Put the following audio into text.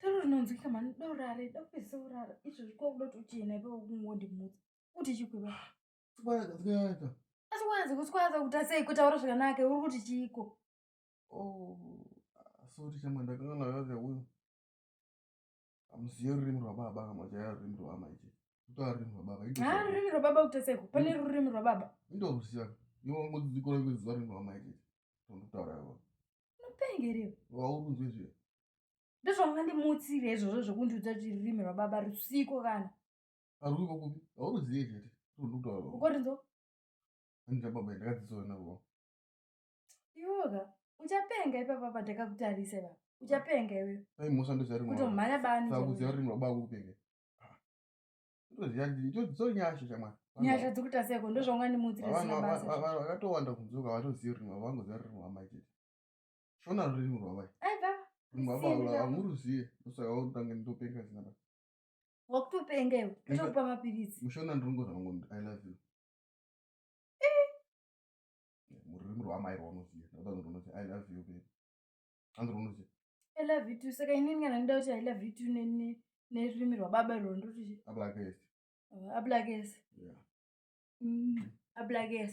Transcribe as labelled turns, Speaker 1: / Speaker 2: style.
Speaker 1: taro rinonzwika mani dorare dopese urara izvo zvikokuda kuti uchena ipa kungondimutsa kuti chikuva asi wanzi kuswaza kuta sei kutaura zvakanaka uri kuti chiiko oh, sorry chama ndakanga ndakazi uyu amuziye rurimi rwababa kana machaya rurimi rwama ichi kutaa rurimi rwababa haa rurimi rwababa kuta seko pane hmm. rurimi rwababa indoruziva iwe wangodzidzikora kuziva rurimi rwama ichi tondokutaura ivo unopengerewa waurunzwe zviya ndozvanga ndimutsire izvozvo zvekundiudza kuti rurimi rwababa rusiko kana aruriko kupi auruzive chete tondokutaura ukorinzo andina baba ndakadzidziswa navo iwoka uchapenga ipapa pandakakutarisa ipapa uchapenga iwe dai mhosva ndozvarimkutomhanya bani kuziva rurimi rwababa kukupenga ndozvinyasha shamwari nyasha dzikuita seko ndozvaungandimutsiravakatowanda kunzoka vatoziva rurimi rwavo vangoziva rurimi rwamai chete shona rurimi rwamai rurimi rwababa hamuruzive ndosaka utange ndopenga zina baa wakutopenga iwe tokupa mapiritsi mushona ndinongoza vangu i love you mururimi rwaamai rwaunoziva ndakuda kunzi runoti i love you baby anzi runoti i love you too saka inini kana ndida kuti i love you too nerurimi rwababa rwo ndoti ablakes ablakes ablakes